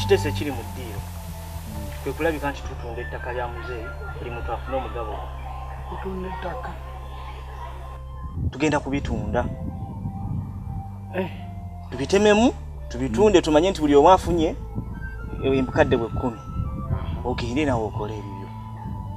ekiteeso ekiri mu ddiiro kwe kulabika nti tutunda ettaka lya muzeeyi buli muntu afune omugabo tutunda ettaka tugenda kubitunda eh. tubitememu tubitunde tumanye nti buli omu afunye embukadde bwe kkumi ogende nawe okole ebibyo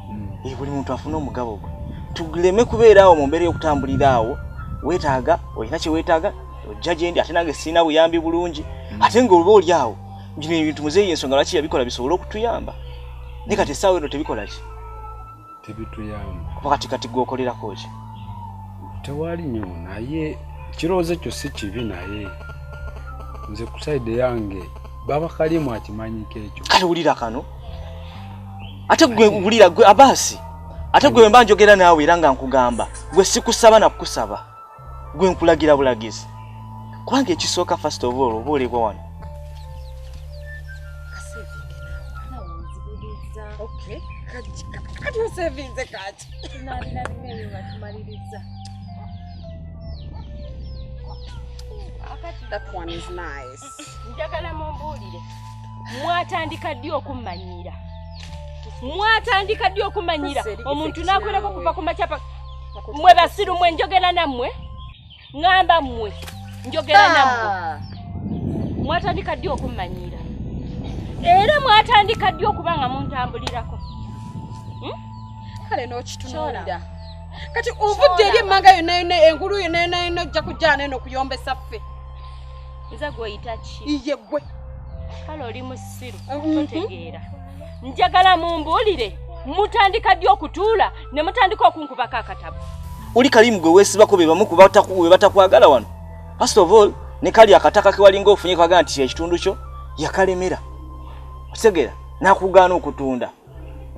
hmm. eh, buli muntu afune omugabo gwe tuleme kubeera awo mu mbeera y'okutambulira awo weetaaga olina kye weetaaga ojja gye ndi ate nange sirina buyambi bulungi mm. ate nga oba oli awo gino ebintu muzeeyi yensonga lwaki yabikola bisobole okutuyamba naye kati essaawa eno tebikola ki tebituyamba kuba kati kati gwokolerako ki tewali nyo naye kirowoozo ekyo si kibi naye nze ku saidi yange baba kalimu akimanyiko ekyo kale wulira kano ate gwe wulira gwe abaasi ate gwe wemba njogera naawe era nga nkugamba gwe sikusaba nakukusaba gwe nkulagira bulagizi kubanga ekisooka first of all oba olibwa wano kati osevinze kaki That one is nice. njagala mumbuulire mwatandika ddi okummanyiira mwatandika ddi okummanyiira omuntu n'akolako kuva ku makyapa mwe basiru mwe njogera nammwe ŋamba mmwe njogera ah. nammwe mwatandika ddi okummanyiira era mwatandika ddi okuba nga muntambulirako hmm? kale n'okitunuulira kati ovudde eri emmanga yonna yonna engulu yonna yonna yonna ojja kujjana eno okuyombesa ffe nze gwoyita ki iye gwe kale oli musiru mhm. totegeera njagala mumbuulire mutandika ddi okutuula ne mutandika okunkubako akatabo oli kalimu gwe weesibako be bamu we batakwagala wano first of all ne kali akataka kewalinga ofunye kwagala nti kyekitundu kyo yakalemera otegeera nakugaana okutunda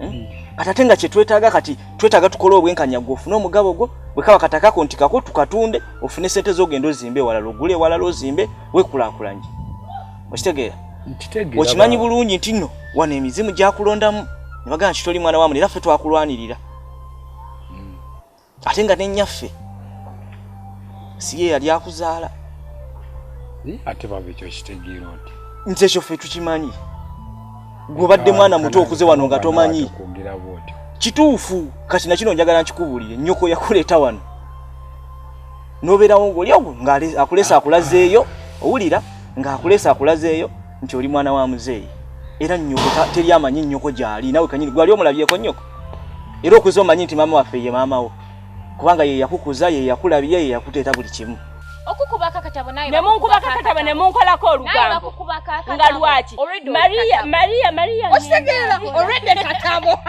eh? hmm. kati ate nga kyetwetaaga kati twetaaga tukole obwenkanya gwe ofune omugabo gwo bwekaba katakako nti kako tukatunde ofune sente zogenda ozimbe ewalala ogule ewalala ozimbe wekulakulanye okitegeera okimanyi bulungi nti no wano emizimu gyakulondamu nebagaa nti toli mwana wamuli era ffe twakulwanirira ate nga nenyaffe siye yali akuzaala ate baba ekyo kitegeera oti nze ekyo ffe tukimanyi gwobadde mwana muto okuze wano nga tomanyi kituufu kati nakino njagala nkikubuulire nyoko yakuleeta wano nobeerawo ngaoli awo ngaakulesa akulazeeyo owulira ngaakulesa akulazeeyo nti oli mwana wa muzeeyi era nyoko teri amanyi nyoko gyali nawe kanyini gwali omulabyeko nyoko era okuza omanyi nti maama waffe ye maama wo kubanga ye yakukuza ye yakulabye ye yakuteeta buli kimu nemunkubakakatabo nemunkolako olugambo nga lwaki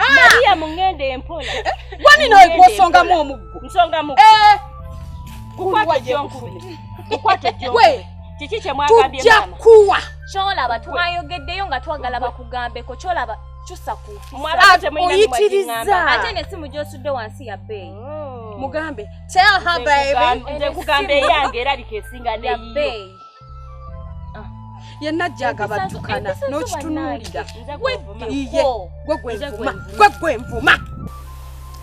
mariya mungenda empola gwaninoegwosongamu omuggo nsongamu eh. kukwata ejonkube kukwata ejonkube kiki kyemwagambye tujja kuwa kyolaba twayogeddeyo nga twagala bakugambeko kyolaba kyusa ku oyitirizza ate ne simu gyosudde wansi ya bbeeyi oh. mugambe tell her baby nze kugamba eyange erabika esinga neyiyo yenna jjaga baddukana n'okitunuulira gwegwenvuma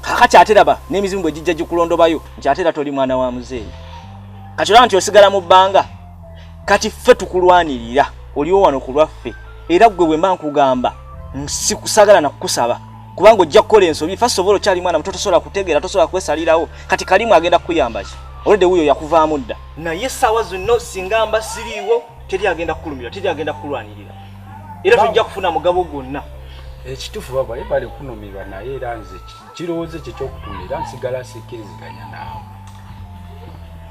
kakati ate laba n'emizimu bwe gijja gikulondobayo nti ate era toli mwana wa muzeeyi kati olaba nti osigala mu bbanga kati ffe tukulwanirira oliwo wano ku lwaffe era ggwe bwe mba nkugamba sikusagala na kukusaba kubanga ojja kukola ensobi fa sobola okyali mwana muto tosobola kutegeera tosobola kwesalirawo kati kalimu agenda kukuyamba ki olwedde wuyo yakuvaamu dda naye essaawa zonna singa mba siriiwo teri agenda kukulumira teri agenda kukulwanirira era tojja kufuna mugabo gwonna ekitufu eh, babaye bali kunumirwa naye era nze kirowoozo kye kyokutunda era nsigala sikkiriziganya naawe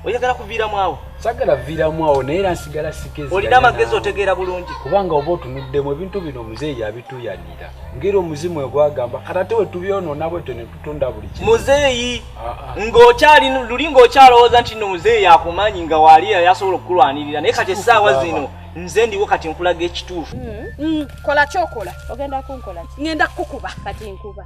oyagala kuviiramu awo sagala viiramu awo naye era nsigala sikkiriziganya olina amagezi otegeera bulungi kubanga oba otunuddemu ebintu bino muzeeyi yabituyanira ngeri omuzimu we gwagamba kata te wetubyonoona bwetyo ne tutunda buli kimu muzeeyi ah, ah. ng'okyali luli ng'okyalowooza nti no muzeeyi yakumanyi nga waali yasobola okukulwanirira naye kati essaawa zino nze ndiwo kati nkulaga ekituufu hmm. Hmm. kola kyokola ogenda kunkola ngenda kukukuba kati nkuba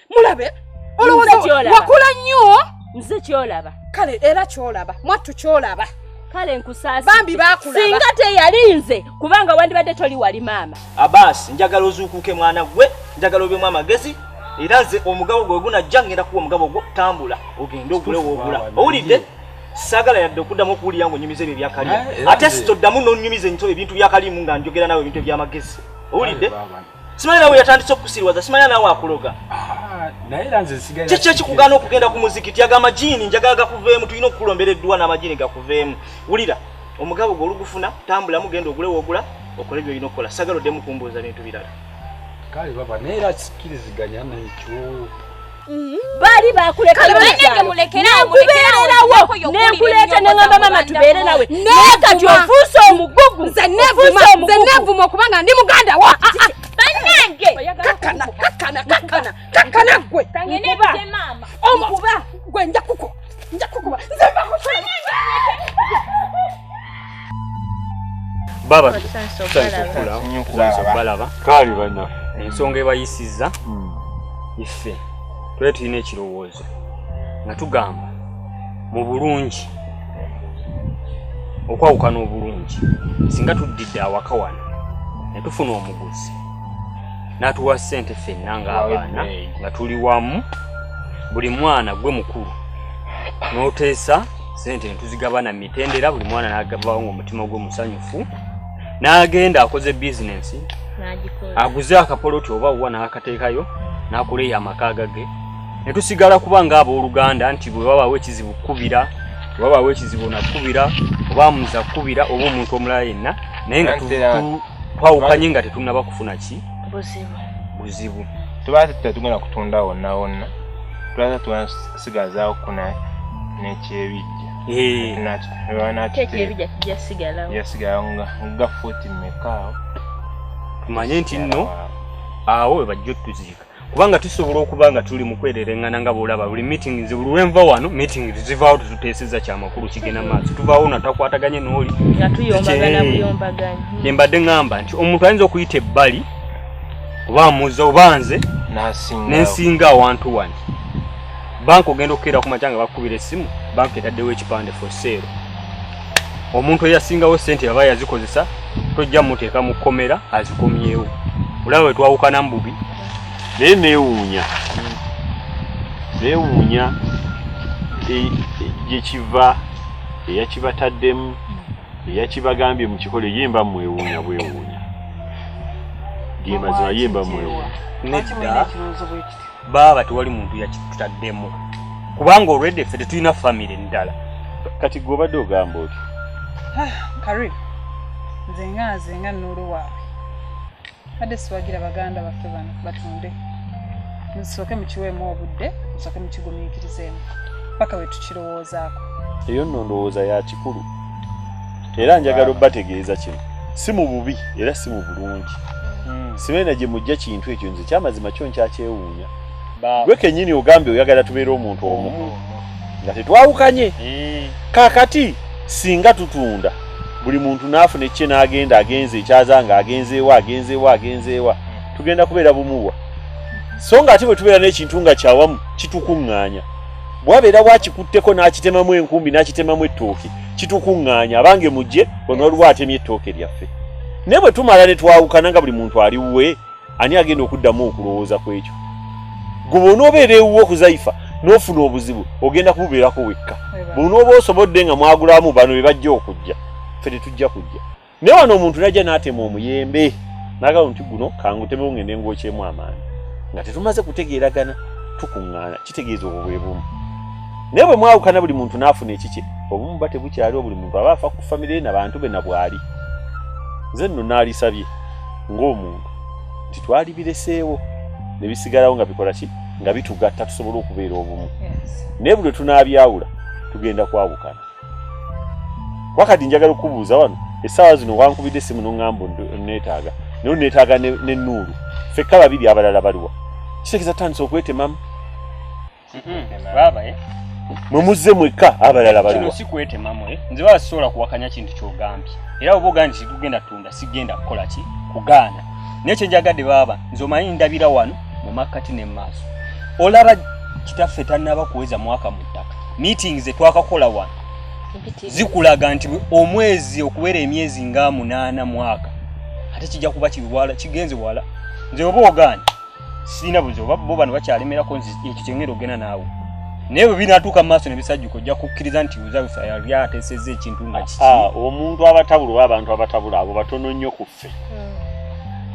mulabe olowooza wakula nnyo nze kyolaba kale era kyolaba mwattu kyolaba kale nkusaasi bambi bakulaba singa teyali nze kubanga wandibadde toli wali maama abaasi njagala ozuukuuke mwana gwe njagala obyemu amagezi era nze omugabo gwe gunajja ngenda kuwa omugabo gwo tambula ogende ogule woogula owulidde sagala yadde okuddamu okuwulira nga onyumiza ebyo ebyakalimu eh, ate sitoddamu nonyumiza ebintu byakalimu nga njogera nawe ebintu ebyamagezi owulidde Simanya nawe yatandise okukusiriwaza, simanya nawe akuloga. Ah, naye era nze nsigaye. Kiki ekikugaana okugenda ku muzikiti? Aga amajiini njagala gakuveemu, tulina okukuloombera edduwa n'amajiini gakuveemu. Wulira, omugabo gwo olugufuna, tambulamu, genda ogule w'ogula, okole by'olina okukola. Sagala oddemu kumbuuza bintu birala. Kale baba, naye era kikiriziganya n'ekyo. baali bakulekanekubeererawonekuleta neamba mama tubeere nawe naye kati ofuuse omugugu nze nevuma okubanga ndi muganda wa ah, ah, ah. banange kakana kakana kakana kakana gwe gwe njakuko baba balaba kaali banaffe ensonga ebayisizza hmm. iffe tule tulina ekirowoozo nga tugamba mu bulungi okwawukana obulungi singa tuddidde awaka wano ne tufuna omuguzi n'atuwa ssente ffenna ng'abaana nga tuli wamu buli mwana gwe mukulu n'oteesa ssente ne tuzigabana mu mitendera buli mwana n'agavawo ng'omutima gwe musanyufu n'agenda akoze bizinensi aguze akapoloti oba wuwa n'akateekayo n'akuleeyo amaka agage ne tusigala kuba ng'abooluganda nti bwe babaawo ekizibu kukubira bwe babaawo ekizibu nakukubira oba muza kukubira oba omuntu omulala yenna naye nga twawukanye nga tetunnaba kufuna ki buzibu buzibu tubaza tetugenda kutunda wonna wonna tubaza tugenda kusigazaawo kuna n'ekyebijja yasigalawo nga fuuti mmekaawo tumanye nti nno awo we bajja otuziika kubanga tusobola okuba nga tuli mu kwerereŋŋana nga bw'olaba buli meeting nze buli lwe nva wano meeting zivaawo tetuteeseza kya makulu kigenda maaso tuvaawo na takwataganye n'oli kye mbadde ŋŋamba nti omuntu ayinza okuyita ebbali oba amuza oba nze nensinga awantu wani banka ogenda okukeera ku makya nga bakukubira essimu banka etaddewo ekipande for sale omuntu eyasingawo sente baba yazikozesa tojja muteeka mu kkomera azikomyewo olaba we twawukana mububi naye neewuunya neewuunya e, e, gyekiva eyakibataddemu eyakibagambye mu kikolo ye mba mwewuunya bwewuunya gemazima ye mba mwewuunya baaba tewali muntu yakitutaddemu kubanga olwedde ffe tetulina famire ndala kati gwe obadde ogamba oti ah, karim nze nga nze nga nnuulu waabwe badde siwagira baganda baffe bano batunde nsooke mukiweemu obudde nsooke mukigumiikirizeemu paka wetukirowoozaako eyo nno ndowooza ya kikulu era njagala obategeeza kino si mu bubi era si mu bulungi hmm. sibeena gye mujja kintu ekyo nze kyamazima kyo nkyakyewuunya gwe kenyini ogambye oyagala tubeere omuntu omu hmm. nga tetwawukanye hmm. kakati singa tutunda buli muntu n'afuna ekikye n'agenda agenze ekyaza nga agenzeewa agenzeewa agenzeewa tugenda kubeera bumuwa so nga ate bwe tubeera n'ekintu nga kyawamu kitukuŋŋaanya bwabeera wakikutteko n'akitemamu enkumbi n'akitemamu ettooke kitukuŋŋaanya abange mujje ono waliwo atemye ettooke lyaffe naye bwe tumala ne twawukana nga buli muntu ali wuwe ani agenda okuddamu okulowooza ku ekyo gwe bwonoobeera ewuwo kuzaifa n'ofuna obuzibu ogenda kububeerako wekka bwonooba osobodde nga mwagulamu bano be bajja okujja ffe tetujja kujja Naye wano omuntu najja n'atema omuyembe n'agamba nti guno kangutemewo ng'ende ng'okyemu amaanyi nga tetumaze kutegeeragana tukuŋŋaana kitegeeza obwo bwe bumu naye bwe mwawukana buli muntu n'afuna ekikye obumu ba tebukyaliwo buli muntu aba afa ku famire ye na bantu be na bwali nze nno naalisabye ng'omuntu nti twali bireseewo ne bisigalawo nga bikola ki nga bitugatta tusobole okubeera obumu naye buli lwe tunaabyawula tugenda kwawukana wakati njagala okubuuza wano essaawa zino wankubidde essimu noŋŋamba neetaaga naye neetaaga ne nuulu fekka babiri abalala baliwa kitegeeza tandisa okwetemamu eh? mwe muzze mwekka abalala baliwa si kwetemamu eh? nze baba sisobola kuwakanya kintu kyogambye era oba ogambye kigugenda tunda sigenda kukola ki kugaana naye kyenjagadde baaba nze omanyi ndabira wano mu makkati ne mu maaso olaba kitaffe tannaba kuweza mwaka mu ttaka meeting ze twakakola wano zikulaga nti omwezi okuwera emyezi nga munaana mwaka ate kijja kuba kiwala kigenze wala nze oba ogaani sirina buzi oba bo bano bakyalemerako ekyo kyengera ogenda naawe naye bwe binatuuka mu maaso ne bisajjuka ojja kukkiriza nti uzabisa yali ateesezza ekintu nga kiki ah, ah, omuntu abatabula oba abantu abatabula abo batono nnyo ku baffe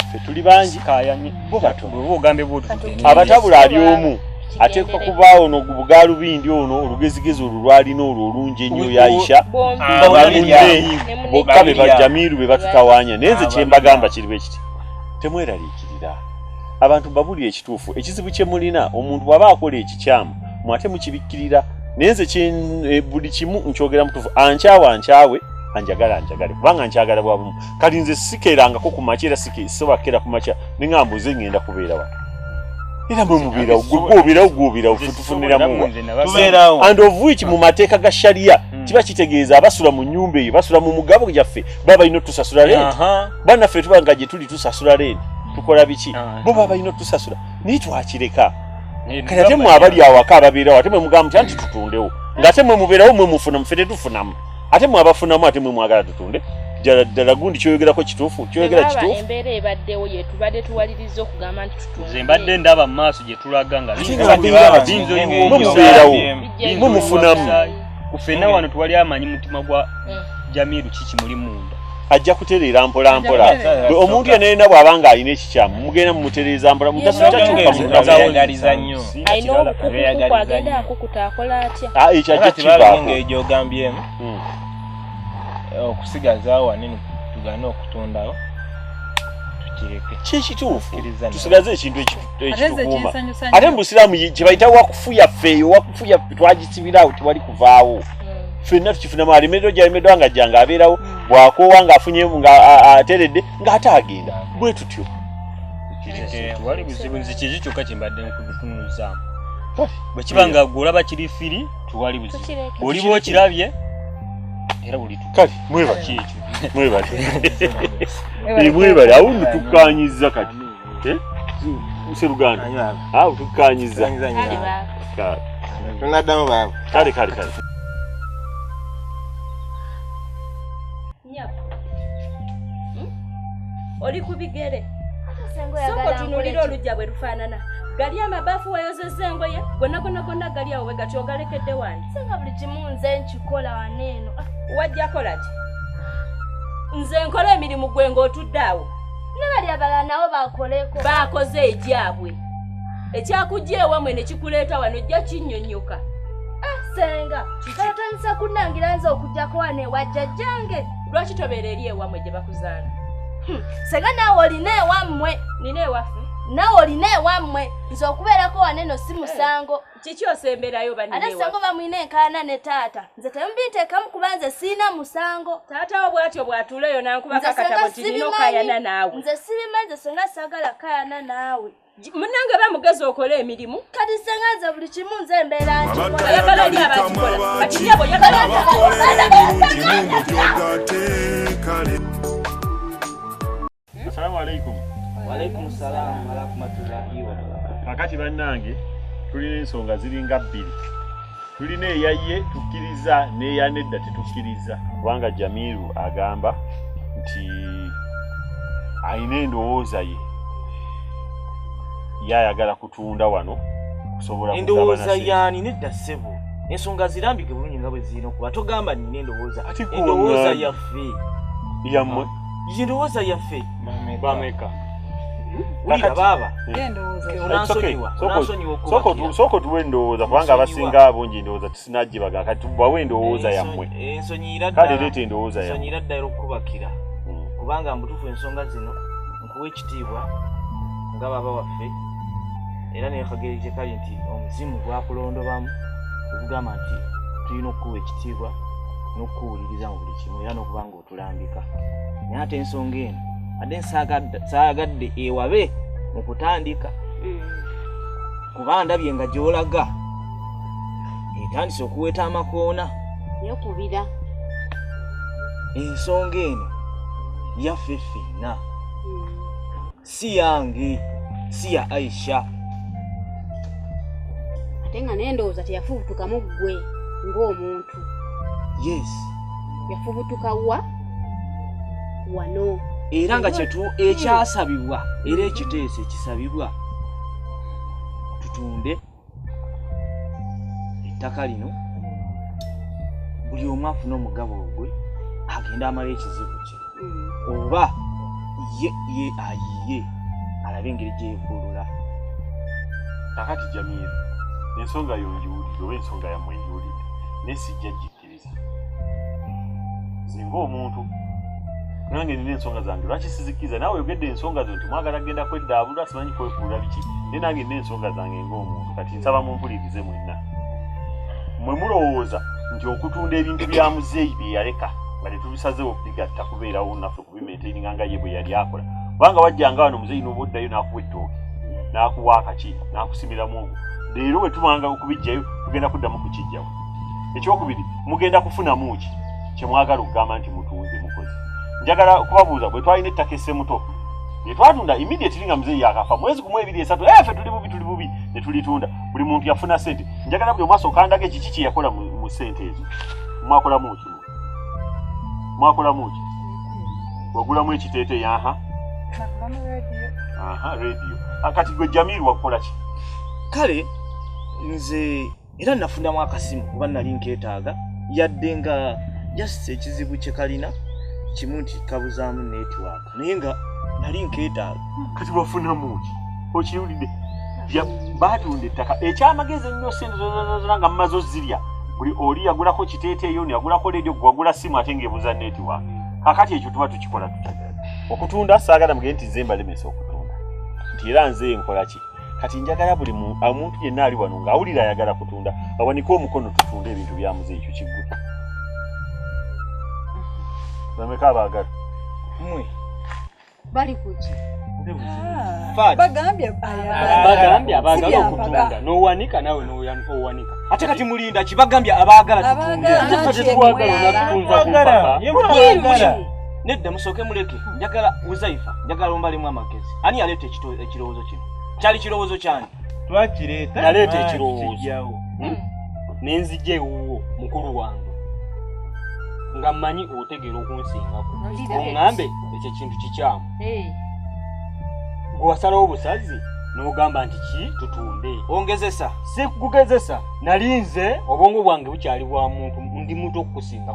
ffe tuli bangi kayanye bo batobo ogambe bo abatabula ali omu ateekwa kubaawo no bugaalubindi ono olugezigezi olwo lwalina olwo olungi ennyo yayisha bamunne bokka be bajamiiru be batutawaanya naye nze kyembagamba kiri bwe kiti temweraliikirira abantu babulira ekituufu ekizibu kye mulina omuntu bw'aba akola ekikyamu mwate mukibikkirira naye nze eh, buli kimu nkyogera mutuufu ankyawa ankyawe anjagala anjagale kubanga nkyagala bwabumu kati nze sikerangako ku makya era sisobakera ku makya ninga mbuze ngenda kubeera wa era mwe mubeerawo gweobeerawo gwobeerawo fe tufuniramu and of which mu mateeka ga shariya hmm. kiba kitegeeza abasula mu nyumba eyo basula mu mugabo gyaffe baba balina otusasula rent banaffe tuba nga gye tuli tusasula rent tukola biki ah, bo baba balina otusasula naye twakireka kati ate mwe abali awaka ababeerawo ate mwe mugamba nti anti tutundewo ng'ate mwe mubeerawo mwe mufuna mufe tetufunamu ate mwabafunamu ate mwe mwagala tutunde ddala gundi kyoyogerako kituufu kyoyogera kituufu embeera ebaddewo yetubadde tuwaliriza okugamba nti tutunze mbadde ndaba mu maaso gye tulaga nga mumubeerawo mumufunamu kufena wano tuwali amanyi mutima gwa mm. jamiru kiki muli munda ajja kutereera mpolampola omuntu yenayena bw'aba nga alina kyamu mugenda mumutereeza mbula mutakyagaliza nnyo alina obukukuku agenda akukuta akola atya ah, ekyo ajja kivaako nga egyogambyemu hmm. okusigaza wanene tugane okutondawo tusigaze ekintu ekitukuuma ate mubusiraamu kyebayita wakufuya feeyo wakufuya twagisibiraawo tewali kuvaawo fenna tukifunamu alemeddwa gyalemeddwa nga jange abeerawo bwakoowa ngaafunye nga ateredde ng'ate agenda bwe tutyo wali buzibu nze kyekyo kyokka kyembadde nkutunuuzaamu bwe kiba nga gwe olaba kiri firi tewali buzibu oliba okirabye era buli kale mwebale kyekyo mwebale eh, mwebale awundi tukkanyiza kati eh? seruganda awo tukkanyiza tunaddamu baaba kale kale kale Nyako. Hmm? Oli ku bigere. Soko tunulira olujja bwe lufaanana. Gali amabafu wayozezza engoye gonna gonna gonna gali awo we gati ogalekedde wani. Singa buli kimu nze nkikola wano eno. Ah. Wajja kola ki? Nze nkola emirimu gwe ng'otudde awo. Ne bali abalala nabo bakoleko. Baakoze egyabwe. Ekyakujja ewamwe ne kikuleeta wano ojja kinnyonnyoka. Ah, senga. kale otandisa kunnangira nze okujjako wano ewa jjajjange lwaki tobeera eri ewammwe gye bakuzaala hmm, senga naawe olina ewammwe nina ewaffe naawe olina ewammwe nze okubeerako wane no si musango eh, kiki osemberayo ate senga oba mulina enkaana ne taata nze temumbinteekamu kuba nze siina musango taatawo bwatyo bwatuuleyo nankubakakatabo kirina okayana naawe nze sibima nze senga sagala kayana naawe munange ba mugezi okola emirimu kati senga nze buli kimu nze embeera ntiayagala oli abakikola kati nyabo yagala kakati bannange tulina ensonga ziringa bbiri tulina eyaye tukkiriza neyanedda tetukkiriza kubanga jamiru agamba nti alina endowooza ye ye ayagala kutunda wano kusobola endowooza yaani nedda ssebo ensonga zirambike bulungi nga bwe zirina okuba togamba nina endowooza endowooza yaffe yammwe ah. yendowooza yaffe bameka wulira baaba sooka otuwa endowooza kubanga abasinga bungi endowooza tusinagyebaga kati tubawa endowooza yammwe kale leeta endowooza yammwe ddala okukubakira hmm. kubanga mbutufu ensonga zino nkuwa ekitiibwa nga baba waffe era nekageri gyekali nti omuzimu gwakulondobamu okugamba nti tulina okukuwa ekitiibwa n'okukuwuliriza mu buli kimu era n'okubanga tulambika naye ate ensonga eno ate saagadde ewabe mu kutandika mm. kuba ndabye nga gyolaga etandise okuweta amakoona yokubira ensonga eno yaffe ffenna si yange si ya aisha ate nga naye ndowooza teyafubutukamu ggwe ng'omuntu yes yafubutuka wa wano era nga kyetu ekyasabibwa era ekiteeso ekisabibwa tutunde ettaka lino buli omu afuna omugabo ogwe agenda amala ekizibu kye mm. oba ye ye ayiye alabe engeri gyeyevulula kakati jamiru ensonga yo njiwulire oba ensonga yamwe njiwulire naye sijja gika kiriza nze ng'omuntu nange nina ensonga zange lwaki sizikiriza nawe oyogedde ensonga zo nti mwagala genda kweddaabulula simanyi kwefuula biki naye nange nina ensonga zange ng'omuntu kati nsaba mumpulirize mwenna mwe mulowooza nti okutunda ebintu bya muzeeyi bye yaleka nga tetubisazeewo bigatta kubeerawo naffe kubimaintaininga nga ye bwe yali akola kubanga wajjanga wano muzeyi noba oddayo nakuwa ettooke nakuwa akaki nakusimiramu ogwo leero bwe tubanga okubijjayo tugenda kuddamu kukijjawo ekyokubiri mugenda kufunamu ki kyemwagala okugamba nti mutunze mukozi njagala kubabuuza bwe twalina ettaka essemuto netwatunda immediately nga muzeyi yakafa mwezi gumu ebiri esatu efe eh, tuli bubi tuli bubi netulitunda buli muntu yafuna sente njagala buli omwasi okandaga ekiki kyeyakola mu sente ezo mwakolamu ki mwakolamu ki wagulamu ekiteete yaha aha radio ah, kati gwe jamir wakukola ki kale nze era nafunamu akasimu kuba nali nketaaga yadde nga just ekizibu kyekalina kimu nti kabuzaamu network naye nga nali nkeetaaga kati wafunamu ki okiwulidde baatunda ettaka ekyamagezi ennyo sente zozazazala nga mumaze ozirya buli oli yagulako kiteeteeyo ni yagulako leediyo gwagula simu ate ngaebuuza neetiwa kakati ekyo tuba tukikola tuta okutunda saagala mugee nti nze mbalemesa okutunda nti era nze nkolaki kati njagala buli omuntu yenna ali wano ng'awulira ayagala kutunda awanike omukono tutunde ebintu byamuze ekyo kigguta bameka abaagala mwe bali kuki bagambye abagala okutunda nowanika nawe owanika ate kati mulinda kibagambye abagala tutundenedda musooke muleke njagala uzaifa njagala ombalemu amagezi ani yaleeta ekirowoozo kino kyali kirowoozo kyani twakireeta naleeta ekirowoozo hmm? nenzija ewuwo mukulu wange nga mmanyi otegeera okunsingako oŋambe ekyo ekintu kikyamu gwewasalawo obusazi nogamba nti ki tutunde ongezesa si kugezesa nali nze obwongo bwange bukyali bwa muntu ndi muntu okukusinga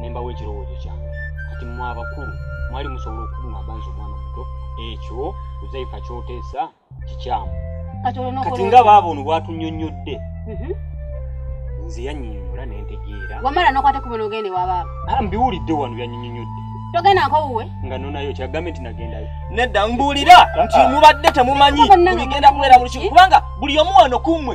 nembawo ekirowoozo kyange kati mwe abakulu mwali musobola okugamba nze omwana omuto ekyo uzaifa kyoteesa kikyamu kati nga baaba ono bwatunyonyodde mhm. nze yanyinyonyola nentegeera wamala nokwate ku bino ogende wabaaba ah, mbiwulidde wano yanyinyonyodde togenda nkowuwe nga nonayo kyagambe nti nagendayo nedda mbuulira nti ah. mubadde temumanyi bigenda kubeera mu lukiiko kubanga buli omu wano kummwe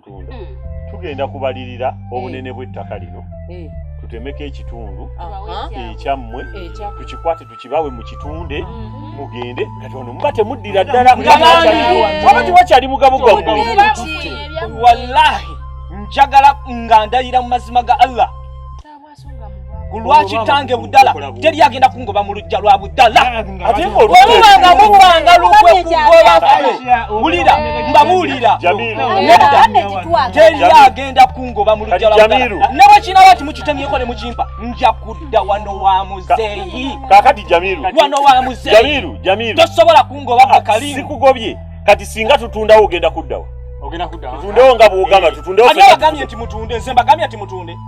tunda hmm. tugenda kubalirira eh. obunene bw'ettaka lino eh. tutemeko ekitundu ekyammwe tukikwate tukibawe mu kitunde mm-hmm. mugende kati ono muba temuddira ddala waba tewakyali mugabo gwammwe wallahi njagala nga ndayira mu mazima ga allah kulwa kitange budala teri agenda kungoba mu lujja lwa budala webubanga mubanga lukwe kugoba wulira mbabuulira teri agenda kungoba mu lujja lwa budala ne bwe kinaba ti mukitemyeko ne mukimpa nja kudda wano wa muzeeyi kakati jamiru wano wa muzeeyi tosobola kungoba ah, kakalimu sikugobye kati singa tutundawo ogenda kuddawo tutundewo nga bwogamba tutundewo agambye nti mutunde nze mbagambye nti mutunde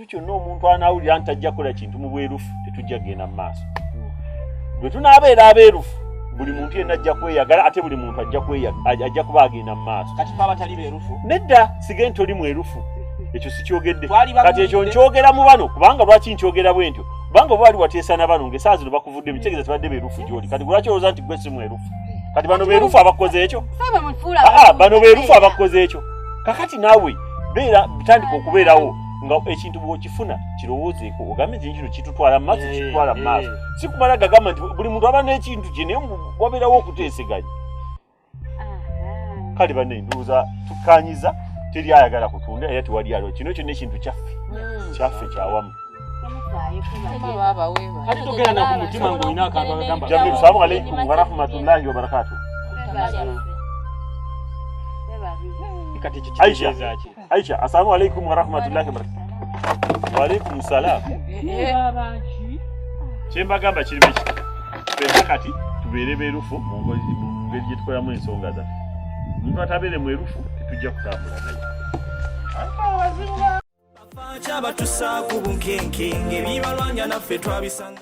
ekintu kyonna omuntu anaawulira nti ajja kukola kintu mu bwerufu tetujja kugenda mu maaso bwe tunaabeera abeerufu buli muntu yenna ajja kweyagala ate buli muntu ajja kuba agenda mu maaso nedda sige nti oli mwerufu ekyo sikyogedde kati ekyo nkyogera mu bano kubanga lwaki nkyogera bwe ntyo kubanga oba wali wateesa na bano ngaesaa zino bakuvudde mitegeeza tebadde beerufu gyoli kati lwaki olowooza nti gwe si mwerufu kati bano beerufu abakoze ekyo ah, ah, bano beerufu abakoze ekyo kakati naawe beera bitandika okubeerawo nga ekintu bwokifuna kirowoozeeko ogambe nti kino kitutwala maaso eh, kitutwala eh. maaso si kumala gagamba nti buli muntu aba n'ekintu kye naye wabeerawo okuteeseganya kale bane ndowooza tukanyiza teri ayagala kutunda era tewali aliwo kino kyonna ekintu kyaffe hmm. kyaffe kyawamu kati togera naku mutima ngaolina akantu agamba jamil salamu aleikum warahmatullahi wabarakatuh kati kikitegeeza ki Aisha, assalamu alaikum wa rahmatullahi wa barakatuh. Wa alaikum salam. Chemba gamba kiri biki? Pesa kati tubeere berufu mu ngozi mu ngeri gye tukolamu ensonga za. Omuntu atabeere mwerufu tetujja kutambula naye. Kyabatusa ku bunkenke ng'ebibalwanya naffe twabisanga